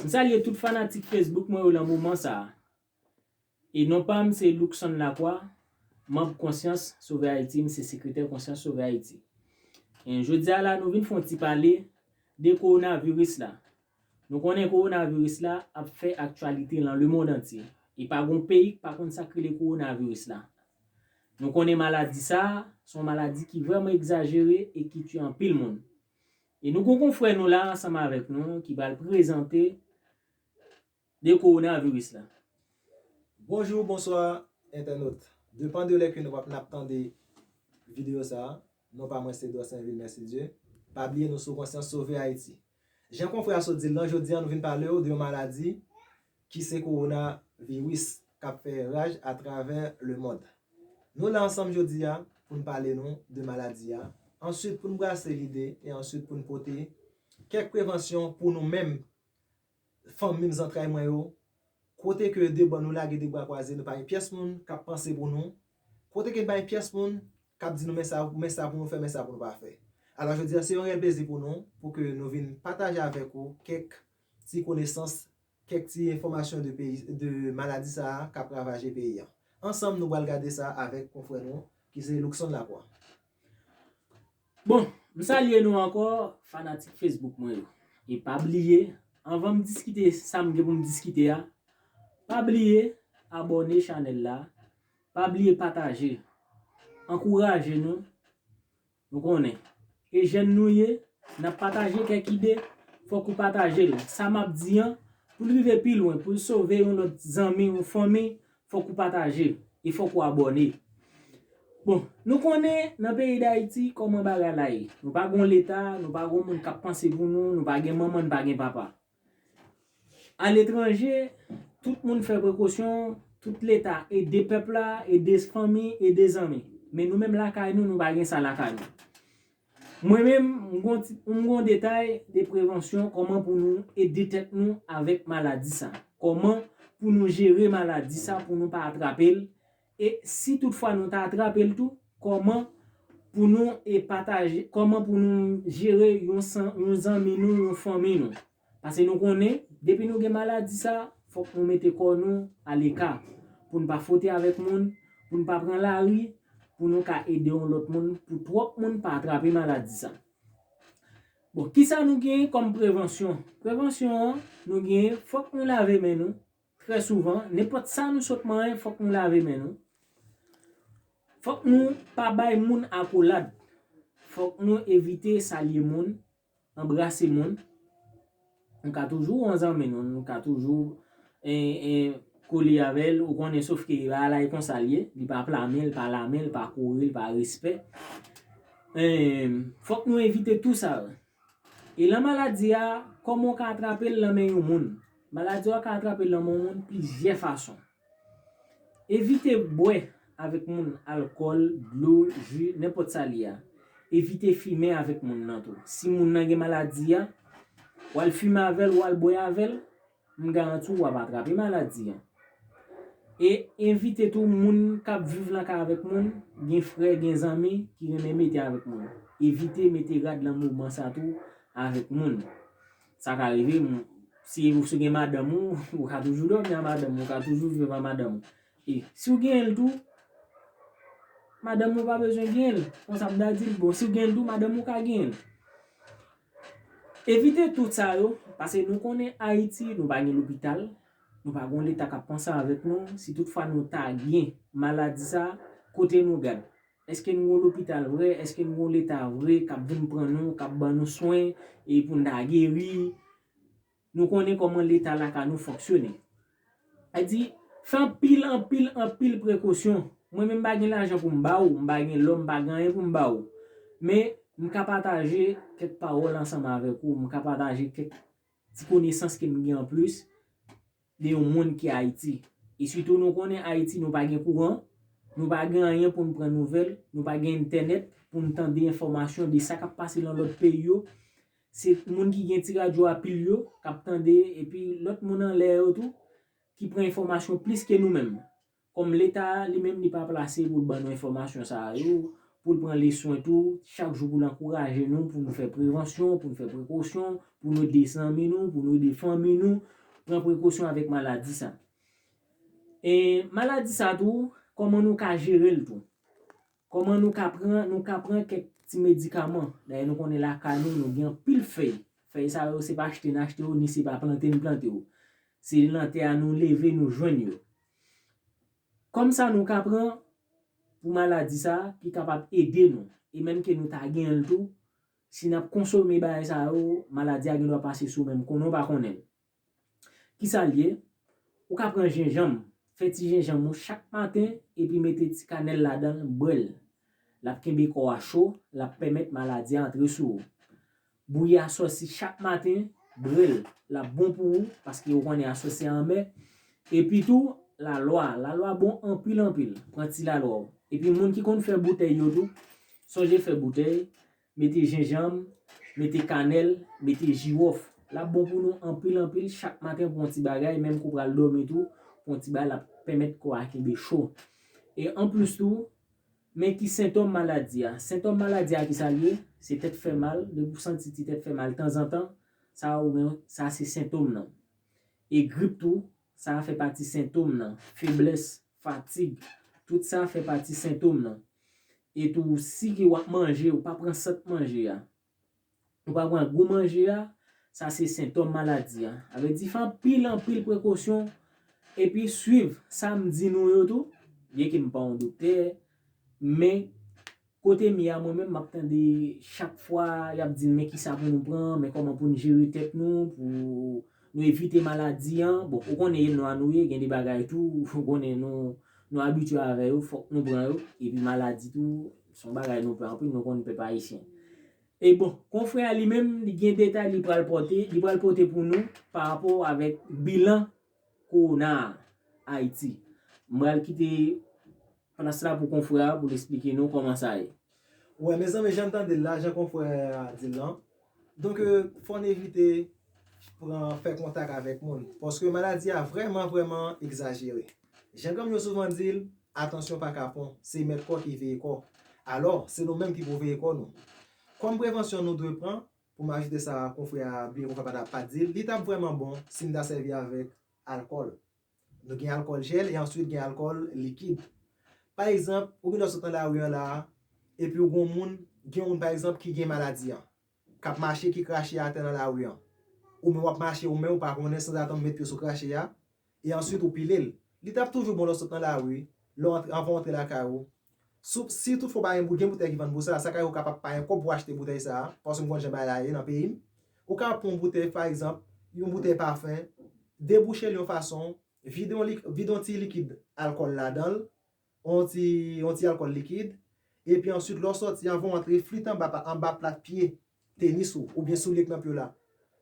M salye tout fanatik Facebook mwen yo lan moman sa a. E non pa m se Luckson Lacroix, manb Konsyans Sove Ayiti, m se sekretè Konsyans Sove Ayiti. E jodi a la nou vin fè yon ti pale de kowonaviris la. Nou konnen kowonaviris la ap fè aktyalite lan lemond antye. E pa gon peyi k pa konn sa k rele kowonaviris la. Nou konnen maladi sa a, se yon maladi ki vrèman egzajere e ki tye anpil moun. E nou gon konfrè nou la ansanm avèk nou ki pral prezante de coronavirus la. Bonjou, bonswa entènot. Depan de lè ke nou wap nap tande video sa, non pa mwen se Dorsainvil Mercidieu. Pa bliye nou sou konsyans sove Ayiti. Jan konfrè a sot dil lan, jodi an nou vin palew de yon maladi ki se kowona viris kap fè raj a travè le mond. Nou la ansanm jodi a pou n pale nou de maladi a, answit pou n brase lide e answit pou n pote kèk prevansyon pou nou menm fanmim zantray mwen yo, kote ke de bò nou lage de bra kwaze nou pa gen pyès moun kap panse pou nou, kote ke nou pa gen pyès moun kap di nou men sa men sa pou nou fè men sa pou nou pa fè. Alò jodi a se yon rèl plezi pou nou pou ke nou vin pataje avèk ou kèk ti konesans Kèk ti enfòmasyon de peyi de maladi sa a k ap ravaje peyi an. Ansanm nou pral gade sa avèk konfrè nou ki se Luckson Lacroix. Bon, m salye nou ankò fanatik Facebook mwen yo. E pa bliye, anvan m diskite sa m gen pou m diskite a, pa bliye abòne chanèl la, pa bliye pataje. Ankouraje nou! Nou konnen. E jèn nou ye, n ap pataje kèk ide, fòk ou pataje l. Sa m ap di an, pou l rive pi lwen, pou l sove yon lòt zanmi ou fanmi, fòk ou pataje. E fòk ou abòne. Bon, nou konnen nan peyi Dayiti kòman bagay la ye. Nou pa gon Leta, nou pa gon moun k ap panse pou nou, nou pa gen manman, n pa gen papa. Aletranje, tout moun fè prekosyon, tout leta ede pèp la, ede fanmi, ede zanmi. Men nou menm lakay nou, nou pa gen sa lakay nou. Mwen menm, m gon detay de prevansyon kòman pou nou ede tèt nou avèk maladi sa. Kòman pou nou jere maladi sa pou nou pa atrape l. E si tout fwa nou ta atrape l tou, kòman pou nou e pataje, kòman pou nou jere yon san, yon zanmi nou, yon fanmi nou. Pase nou konnen, depi nou gen maladi sa, fòk nou mete kò nou a leka, pou n pa fwote avèk moun, pou n pa pran lari, pou nou ka ede yon lòt moun, pou twòp moun pa atrape maladi sa. Bon, kisa nou genyen kòm prevansyon? Prevansyon an, nou genyen, fòk nou lave men nou, Trè souvan, nenpòt sa nou sot manyen fòk nou lave men nou, fòk nou pa bay moun akolad, fòk nou evite salye moun, anbrase moun, nou ka toujou yon zanmi nou, nou ka toujou kole avè l, ou konnen sof ke bagay la e konsa l ye, li pa pla men, li pa la men, li pa kore, li pa respè, fòk nou evite tou sa yo. Elan maladi a, kòman w ka atrape l nan men yon moun? Maladi a ou ka atrape l nan men yon moun plizyè fason. Evite bwè avèk moun alkòl, dlo, ji, nenpòt sa li a. Evite fimen avèk moun nan tou. Si moun nan gen maladi a, w al fimen avè l, w al bwè avè l. M garanti w wap atrape maladi an. E evite tou moun kap viv nan kay avèk moun, gen frè, gen zanmi ki renmen mete avèk moun. Evite mete rad nan moman sa tou avèk moun. Sa ka rive, si ou se gen madanm ou, ou ka toujou dòmi a madanm ou, ou ka toujou viv a madanm ou. E si ou genyen l tou, madanm ou pa bezwen genyen l. Konsa m ta di l, bon si ou genyen l tou, madanm ou ka genyen l. Evite tout sa yo, pase nou konnen Ayiti nou pa gen lopital, nou pa gon leta kap panse avèk nou, si tout fwa nou ta gen maladi sa, kote nou gad? Eske nou gon lopital vre, eske nou gon leta vre kap vin pran nou, kap ban nou swen e poun ta geri? Nou konnen kòman leta lakay nou fonksyone. Sa di, fè anpil, anpil, anpil prekosyon. Mwen menm m pa gen lajan pou m ba ou, m pa gen lò, m pa gen anyen pou m ba ou. Men, m ka pataje kèk pawòl ansanm avèk ou, m ka pataje kèk ti konesans ke m gen anplis. de yon moun ki Ayiti. E sitou nou konnen Ayiti nou pa gen kouran, nou pa gen anyen pou n pran nouvèl, nou pa gen entènèt pou n tande enfòmasyon de sa k ap pase lan lòt peyi yo. Se moun ki gen ti radyo a pil yo k ap tande epi lòt moun anlè yo tou ki pran enfòmasyon plis ke nou menm. Kòm leta a li menm li pa plase pou l ban nou enfòmasyon sa a yo, pou l pran li swen tou, chak jou pou l ankouraje nou pou nou fè prevansyon, pou nou fè prekosyon, pou nou ede zanmi nou, pou nou ede fanmi nou, pran prekosyon avèk maladi sa. E maladi sa tou, kòman nou ka jere l tou. Kòman nou ka pran, nou ka pran kèk ti medikaman. Dayè nou konnen lakay nou, nou gen anpil fèy. Fèy sa yo se pa achte n achte yo, ni se pa plante n plante yo. Se nan tè a nou leve nou jwenn yo. Kòm sa nou ka pran pou maladi sa ki kapab ede nou e menm ke nou ta genyen l tou, si nap konsome bagay sa yo, maladi a gendwa pase sou menm konnen w pa konnen l. Kisa l ye? Ou ka pran jenjanm, fè ti jenjanm ou chak maten epi mete ti kanèl ladan l, bwè l. Lap kenbe kò a cho, lap pèmèt maladi a antre sou ou. Bouyi aswè si chak maten, bre l, l ap bon pou ou, paske ou konnen aswè se anmè. Epi tou, lalwa, lalwa bon anpil anpil, pran ti lalwa w. Epi moun ki konn fè boutèy yo tou, sonje fè boutèy, mete jenjanm, mete kanèl, mete jiwòf. L ap bon pou nou anpil anpil, chak maten pran w ti bagay, menm ke w pral dòmi tou, pran w ti bagay l ap pèmèt kò a kenbe cho. E anplis tou, Men ki sentòm maladi a. Sentòm maladi a ki sa l ye? Se tèt fè mal, depi w santi ti tèt fè mal tanzantan, sa ou gen, sa se sentòm nan. E grip tou, sa a fè pati sentòm nan. Feblès, fatig, tout sa fè pati sentòm nan. E tou si ke w ap manje, ou pa pran sant manje a. Ou pa pran gou manje a, sa se sentòm maladi a. A vle di fè anpil anpil prekosyon epi swiv sa m di nou yo tou, byen ke m pa yon doktè, men kote m ye a mwen menm m ap tande chak fwa y ap di n men kisa pou nou pran, men kòman pou n jere tèt nou, pou nou evite maladi an. Bon, ou konnen e nwa nou ye, gen de bagay tou ou konnen nou abitye avè yo, fòk nou pran yo, epi maladi tou. Se yon bagay nou pè anpil, nou konn pèp ayisyen. E bon, konfrè a li menm, li gen detay li pral pote, li pral pote pou nou pa rapò avèk bilan kowona a Ayiti. M pral kite plas la pou konfrè a pou l esplike nou kòman sa ye. Wè mezanmi jan n tande l la, jan konfrè a di l lan, Donk fò n evite pran fè kontak avèk moun paske maladi a vrèman vrèman egzajere. Jan granm yo souvan di l, atansyon pa kapon, se mèt kò ki veye kò. Alò, se nou menm ki pou veye kò nou. Kòm prevansyon nou dwe pran, pou m ajoute sa konfrè a byen konfè pa ta pa di l, li t ap vrèman bon si n ta sèvi avèk alkòl. Nou gen alkòl jèl e answit gen alkòl likid. Pa egzanp, ou gendwa sot nan lari an la a, epi ou gen yon moun, gen yon moun pa egzanp ki gen maladi an, k ap mache ki krache atè nan lari an. Ou menm w ap mache ou menm ou pa konnen sanzatann ou met pye sou krache a, e answit ou pile l. Li t ap toujou bon lè w sot nan lari, lè w antre, anvan w antre lakay ou, Soup si tout fwa w pa gen boudin boutèy ki vann pou sa a, sa ka ye ou ka p ap pa gen kòb pou achte boutèy sa a, paske m konn jan bagay la ye nan peyi m. Ou ka ap pran yon boutèy, pa egzanp, yon boutèy pafen, debouche l yon fason, vide yon lik, vide yon ti likid alkòl ladan l, yon ti, yon ti alkòl likid, epi ansuit lè w sòti, anvan w antre, flit anba pa, anba plat pye tenis ou, oubyen soulye k nan pye w la.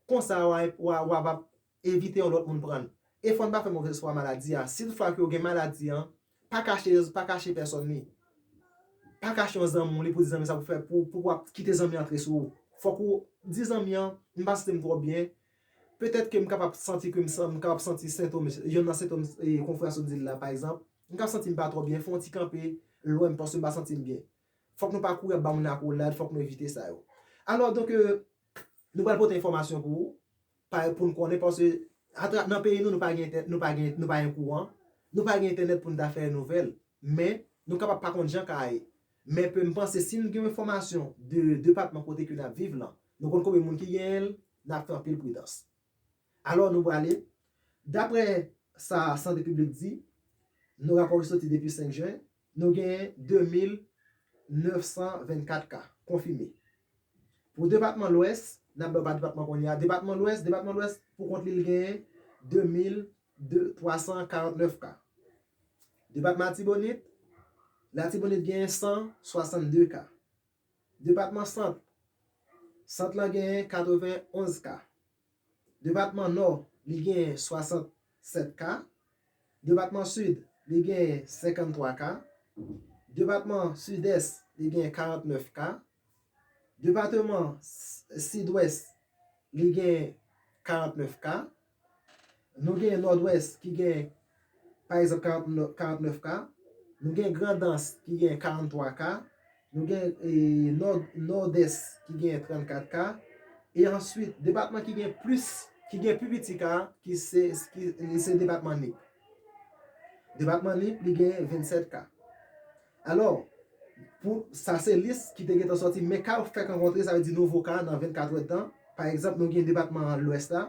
Konsa w a, w a, w a p ap Evite yon lòt moun pran l. E fò n pa fè movèz fwa maladi a. Si toutfwa ke ou gen maladi an, pa kache pa kache pèsòn li. Pa kache yon zanmi w li pou di zanmi sa pou fè pou pou w ap kite zanmi an antre sou ou. Fòk ou di zanmi an, m pa santi m twò byen, petèt ke m kapab santi ke m san m kapab santi sentom yonn nan sentom konfrè a sot di l la pa egzanp. M ka santi m pa twò byen, fè yon ti kanpe lwen m paske m pa santi m byen. Fòk nou pa kouri ap ba moun akolad, fòk nou evite sa yo. Alò donk, Nou pral pote enfòmasyon pou ou, pou n konnen paske atra nan peyi nou nou pa gen entè nou pa gen nou pa gen kouran, nou pa gen entènèt pou n ta fè nouvèl men nou kapab pa konn jan ka ye men pe m panse si n gen yon enfòmasyon de depatman kote ke n ap viv lan nou konn konbyen moun ki genyen l n ap fè anpil pridans alò nou prale daprè sa sante piblik di nou rapò ki soti depi 5 jen Nou genyen 2924 ka konfime. Pou depatman Lwès, n ap bay w pa depatman kounye a, depatman Lwès, depatman Lwès pou kont li l genyen 2349 ka. Depatman Atibonit, Latibonit genyen 162 ka. Depatman Sant, Sant lan genyen 91 ka. Depatman Nò, li genyen 67 ka. Depatman Sid, li genyen 53 ka. Depatman Sidès, li genyen 49 ka. Depateman Sidwès, li genyen 49 ka. Nou genyen Nòdwès ki genyen. pa egzanp 49 ka, nou gen Grandans ki gen 43 ka, nou gen Nòdès ki gen 34 ka, e answit depatman ki gen plis, ki gen pi piti ka, ki se, li se depatman Nip. Depatman Nip li gen 27 ka. Alò, pou, sa se lis ki te gentan sòti, men ka yo fèk rankontre, sa vle di nouvo ka nan 24 èdtan, pa egzanp nou gen depatman Lwès la,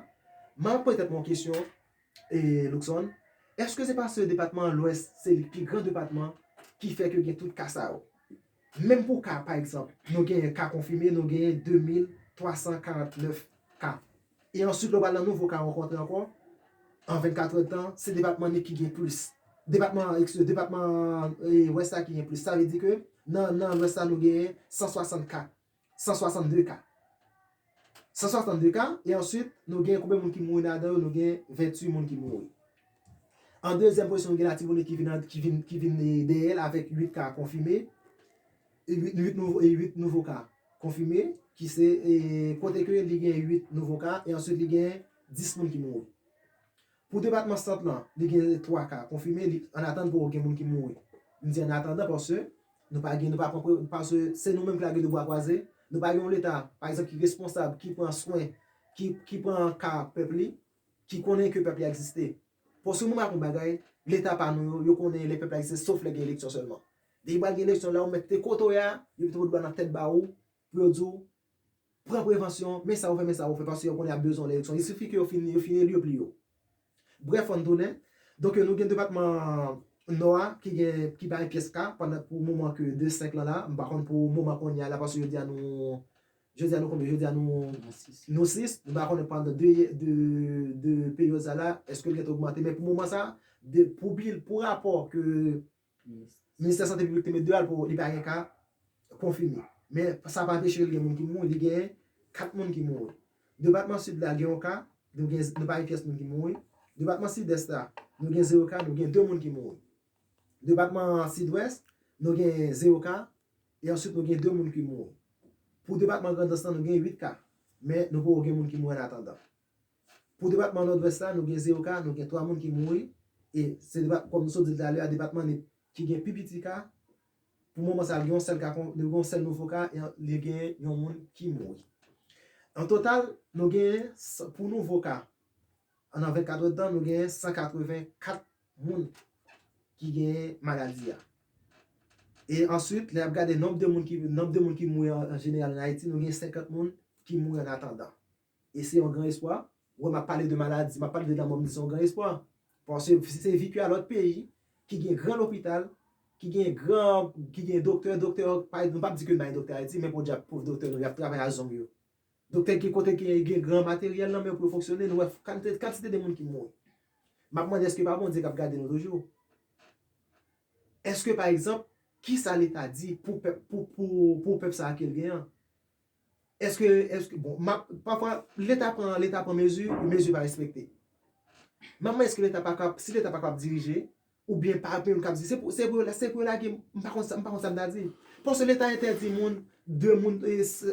m ap poze tèt mwen yon kesyon, Luckson, Èske se paske depatman Lwès se li pi gran depatman ki fè ke gen tout ka sa yo? Menm pou ka, pa egzanp, nou genyen ka konfime, nou genyen 2349 ka. E answit lè w pral nan nouvo ka ankò an, an 24 è tan, se depatman Nip ki gen plis. Depatman, ekskize, depatman Lwès la ki gen plis. Sa vle di ke nan Lwès la nou genyen 160 ka. 162 ka. 162 ka, e answit nou gen konbe moun ki mouri nan adan yo, nou gen 28 moun ki mouri. An dezyèm pozisyon nou gen Latibonit ki vin an, ki vin, ki vin dèyèl avèk 8 ka konfime, 8, 8 nouvo, 8 nouvo ka konfime, ki se, e kote ke li gen 8 nouvo ka, e answit li gen 10 moun ki mouri. Pou depatman Sant lan, li gen 3 ka konfime, li an atann poko gen moun ki mouri. M di an atandan paske nou pa gen, nou pa pran pre, paske se nou menm ki la gen 2 bwa kwaze, nou pa gen yon leta, pa egzanp ki responsab, ki pran swen, ki ki pran ka pèp li, ki konnen ke pèp li egziste. Paske mwen map yon bagay, leta pa nou yo, yo konnen lè pèp la egziste sof lè gen eleksyon sèlman. Depi pral gen eleksyon la ou mèt te kote w ye a, yo mete yon doua nan tèt ba ou, pou yo di w pran prevansyon, men sa ou fè, men sa ou fè, paske yo konnen y ap bezwen w nan eleksyon. Il sifi ke yo fin yo fin eli yo pli yo. Brèf fò n tounen. Donk yo nou gen depatman Nò a ki gen ki pa gen pyès ka pandan pou moman ke 2 5 lan la, m pa konn pou moman kounye a la paske jodi a nou jodi a nou konbyen jodi a nou nou 6, m pa konnen pandan 2 ye 2 2 peryòd sa la èske l gen te ogmante men pou moman sa pou bil pou rapò ke Ministè Sante Piblik te met 2 al pou li pa gen ka konfime. Men sa pa anpeche li gen moun ki mouri, li genyen 4 moun ki mouri. Depatman Sid la gen yon ka, nou gen, nou pa gen pyès moun ki mouri. Depatman Sidès la, nou gen 0 ka, nou gen 2 moun ki mouri. Depatman Sidwès, nou gen 0 ka, e answit nou gen 2 moun ki mouri. Pou depatman Grandans lan nou gen 8 ka, men nou poko gen moun ki mouri an atandan. Pou depatman Nòdwès la, nou gen 0 ka, nou gen 3 moun ki mouri, e se depat, kòm nou sot di l talè a, depatman Nip ki gen pi piti ka, pou moman sa a, gen yon sèl ka, gen yon sèl nouvo ka, e li gen yon moun ki mouri. An total, nou genyen, pou nouvo ka, nan 24 èdtan, nou genyen 184 moun ki genyen maladi a. E answit, lè y ap gade nonb de moun ki, nonb de moun ki mouri an jeneral an Ayiti, nou gen 50 moun ki mouri an atandan. E se yon gran espwa. Wè map pale de maladi, map pale de lanmò m di se yon gran espwa. Paske si se vi ke a lòt peyi ki gen gran lopital, ki gen gran, ki gen doktè, doktè yo pa, nou pap di ke nou pa gen doktè Ayiti men podyab pov doktè nou yap travay a zong yo. Doktè ki gen kote ki gen gran materyèl nan men yo pou yo fonksyone, nou wè kantite, kantite de moun ki mouri. Map mande eske pa Bondye kap gade nou toujou? Eske pa egzanp, kisa leta di pou pèp, pou, pou, pou pèp sa a kel gen an? Eske, eske, bon, map, pafwa, leta pran, leta pran mezi, mezi pa respekte. Map mande eske leta pa kap, si leta pa kap dirije, ou byen pa gen moun kap di, se pou, se pou yo, se pou yo lage, m pa konn sa, m pa konn sa m ta di. Paske leta entèdi moun, 2 moun,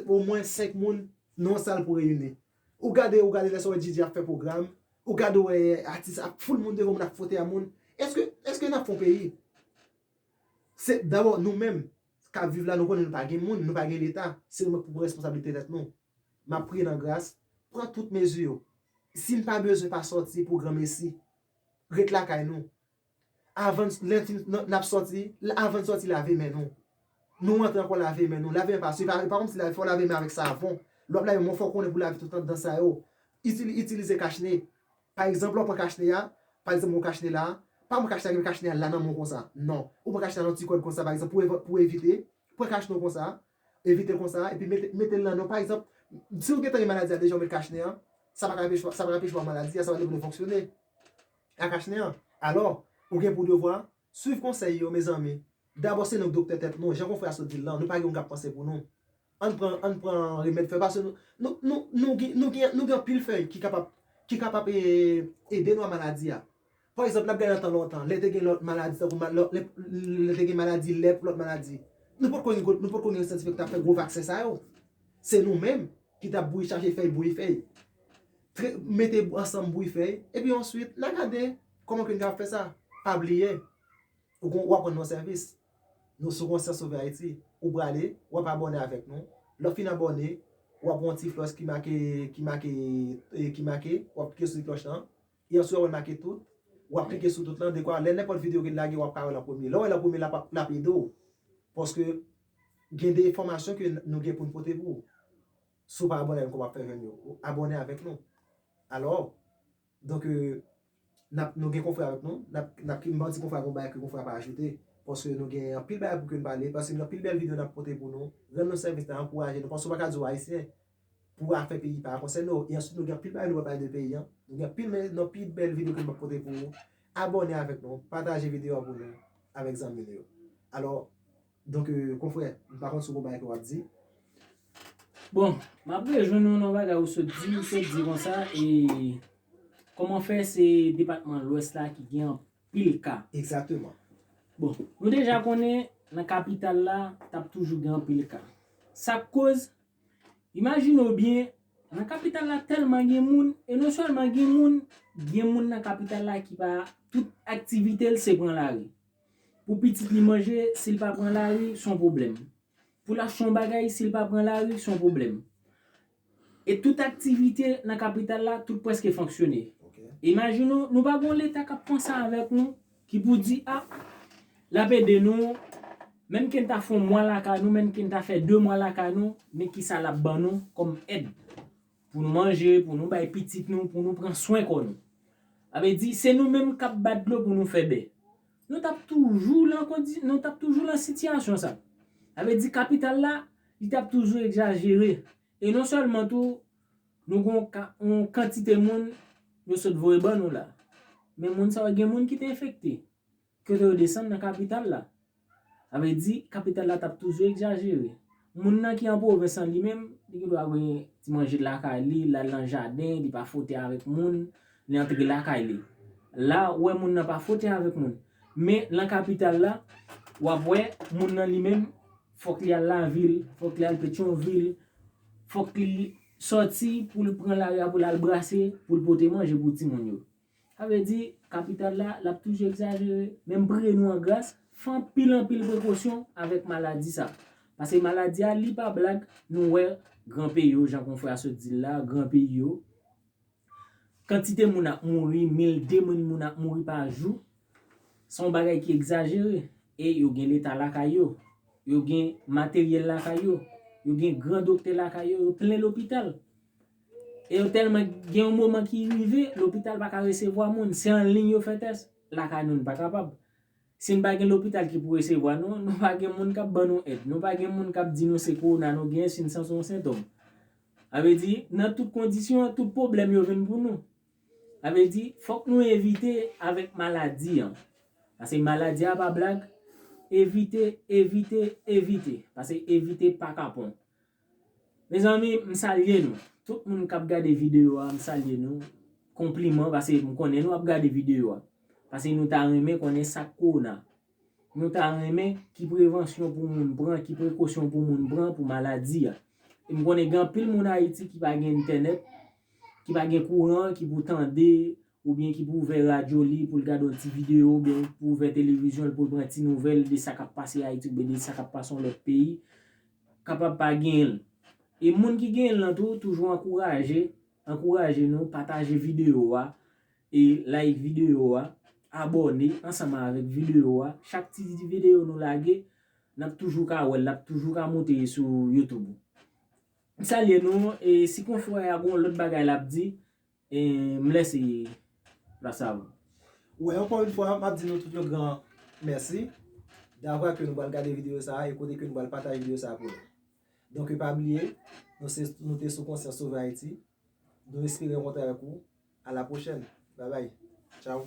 o mwen 5 moun nan yon sal pou reyini. Ou gade, ou gade lè sa w wè JJ ap fè pwogram, ou gade ou wè atis ap foul moun devan moun ap fwote a moun. Eske, eske nap fè yon peyi? Se, dabò nou menm, k ap viv la nou konnen nou pa gen moun, nou pa gen leta, se nou menm k pou pran responsablite tèt nou. M ap priye nan gras, pran tout mezi yo. Si n pa bezwen pa sòti pou granmesi, ret lakay nou. Avan n, lè n fin, n ap sòti, avan n sòti lave men nou. Nou antre ankò lave men nou, lave men pa swi, e pa kòmsi lave, fò w lave men avèk savon. Lè w ap lave men w fò w konnen pou w lave tout anndan sa yo. Itilize kachne. Pa egzanp lè w pran kachnen a, pa egzanp mwen kachnen la, pa pran kachnen a gen kachnen a la nan men w konsa, non. Ou pran kachnen a nan ti kòd konsa pa egzanp pou evan, pou evite, pran kachnen w konsa, evite l konsa epi mete, mete l nan men w pa egzanp, si w gentan gen maladi a deja ou met kachnen an, sa pa ka anpeche, sa pa ka anpeche w pa gen maladi a, sa pa vle di w pa ka fonksyone ak kachnen an. Alò, ou gen pou devwa Swiv konsèy yo mezanmi. Dabò se nou k doktè tèt nou, jan konfrè a sot di l lan, nou pa gen moun k ap panse pou nou. Ann pran ann pran remèd fè paske nou nou nou nou gen nou gen nou gen anpil fèy ki kapab ki kapab e ede nou a maladi a. Pa egzanp n ap gade nan tan lontan lè te gen lòt maladi tankou ma lò lè lè te gen maladi lèp lòt maladi nou potko gen nou potko gen syantifik k t ap fè gwo vaksen sa yo. Se nou menm ki t ap bouyi chache fèy bouyi fèy. Tre mete ansanm bouyi fèy epi answit n a gade. Kòman ke n ka fè sa? Pa bliye, ou gon, w ap rann yon sèvis. Nou sou Konsyans Sove Ayiti. Ou prale, w ap abòne avèk nou. Lè w fin abòne, w ap wè yon ti flòch ki make, ki make, ki make, w ap klike sou ti klòch lan. E answit w ap wè make tout. W ap klike sou tout lan dekwa lè nenpòt videyo ke n lage w ap ka wè l an premye. Lè w wè l an premye l ap, l ap ede w. Paske gen de enfòmasyon ke nou gen pou n pote pou ou. Si w pa abòne avèk nou kòman w ap fè jwenn yo? Abòne avèk nou. Alò. Donk, nap, nou gen konfrè avèk nou, nap, nap ki, m'pa di konfrè a gon bagay ke konfrè a pa ajoute, paske nou gen anpil bagay pou ke nou pale, paske gen anpil bèl video nap pote pou nou, rann nou sèvis la, ankouraje nou, paske ou pa ka di ou Ayisyen, pou afè peyi pa konsène ou, e answit nou gen anpil bagay nou pral pale de peyi an, nou gen anpil men, nou pi bèl video ke nou ap pote pou ou, abòne avèk nou, pataje video a pou nou, avèk zanmi nou yo. Alò. Donk konfrè, m pa konn si w konn bagay ke w ap di. Bon, m ap rejwenn ou nan bagay ou sot di, ou sot di konsa e kòman fè se depatman lwès la ki gen anpil ka? Egzakteman. Bon, nou deja konnen nan kapital la t ap toujou gen anpil ka. Sa k koz? Imajine w byen, nan kapital la tèlman gen moun, e non sèlman gen moun, gen moun nan kapital la ki pa, tout aktivite l se pran lari. Pou pitit li manje, si l pa pran lari, s on pwoblèm. Pou l achte yon bagay, si l pa pran lari, s on pwoblèm. E tout aktivite nan kapital la, tout prèske fonksyone. Imajine w, nou pa gen yon Leta k ap panse avèk nou, ki pou di, a, l ap ede nou, menm ke n ta fè yon mwa lakay nou, menm ke n ta fè de mwa lakay nou, men kisa l ap ban nou kòm èd. Pou nou manje, pou nou bay pitit nou, pou nou pran swen kò nou. Sa vle di, se nou menm k ap bat dlo pou nou fè bè. Nou t ap toujou lan kondi, nou t ap toujou lan sitiyasyon sa. Sa vle di kapital la, li t ap toujou egzajere. E non sèlman tou, nou gen yon kantite moun yo sot voye ban nou la. Men moun sa yo gen moun ki te enfekte. Kote yo desann nan kapital la. Sa vle di, kapital la t ap toujou egzajere. Moun nan ki an pwovens lan li menm, li gen dwa gen ti manje lakay li, l al nan jaden, li pa fwote avèk moun, li antre lakay li. La, ou wè moun nan pa fwote avèk moun. Men, nan kapital la, w ap wè, moun nan li menm, fòk li al lavil, fòk li al Petyonvil, fòk li sòti pou l pran lari a pou l al brase, pou l pote manje pou timoun yo. Sa vle di, kapital la, l ap toujou egzajere. Men m priye nou an gras, fè anpil anpil prekosyon avèk maladi sa. Pase maladi a, li pa blag, nou wè gran peyi yo, jan konfrè a sot di l la, gran peyi yo, kantite moun ap mouri, mil, de mil moun ap mouri pa jou, se yon bagay ki egzajere. E yo gen leta lakay yo, yo gen materyèl lakay yo, yo gen gran doktè lakay yo, yo plen lopital. E yo tèlman gen yon moman ki rive, lopital pa ka resevwa moun, se an liy yo fè tès, lakay nou nou pa kapab. Si nou pa gen lopital ki pou resevwa nou, nou pa gen moun k ap ban nou èd, nou pa gen moun k ap di nou se kowona nou genyen si nou santi yon sentòm. Sa vle di, nan tout kondisyon, tout pwoblèm yo vin pou nou. Sa vle di, fòk nou evite avèk maladi an. Pase maladi a pa blag, evite, evite, evite. Pase evite pa kapon. Mezanmi m salye nou tout moun kap gade video a m salye nou konpliman pase m konnen nou ap gade video a pase nou ta renmen konnen sak kowona nou ta renmen ki prevansyon pou moun pran ki prekosyon pou moun pran pou maladi a e m konnen gen anpil moun ayiti ki pa gen entènèt ki pa gen kouran ki pou tande oubyen ki pou ouvè radyo li pou l gade yon ti videyo oubyen ki pou ouvè televizyon l pou l pran ti nouvèl de sa k ap pase Ayiti oubyen de sa k ap pase yon lòt peyi, kapab pa genyen l. E moun ki genyen l lan tou, toujou ankouraje, ankouraje nou, pataje videyo a, e like videyo a, abòne ansanm avèk videyo a, chak ti videyo nou lage, n ap toujou ka wè l, l ap toujou ka moute sou YouTube ou. M salye nou, e si konfrè a gen yon lòt bagay l ap di, M lè se la sav. Wè ankò yon fwa map di nou tout yon gran mèsi davwa ke nou pral gade video sa e kote ke nou pral pataje video sa pou nou. Donke pa bliye nou se nou te sou konsyans sove Ayiti. Nou espere rankontre avèk ou a la pwochèn. Babay. Tchaw.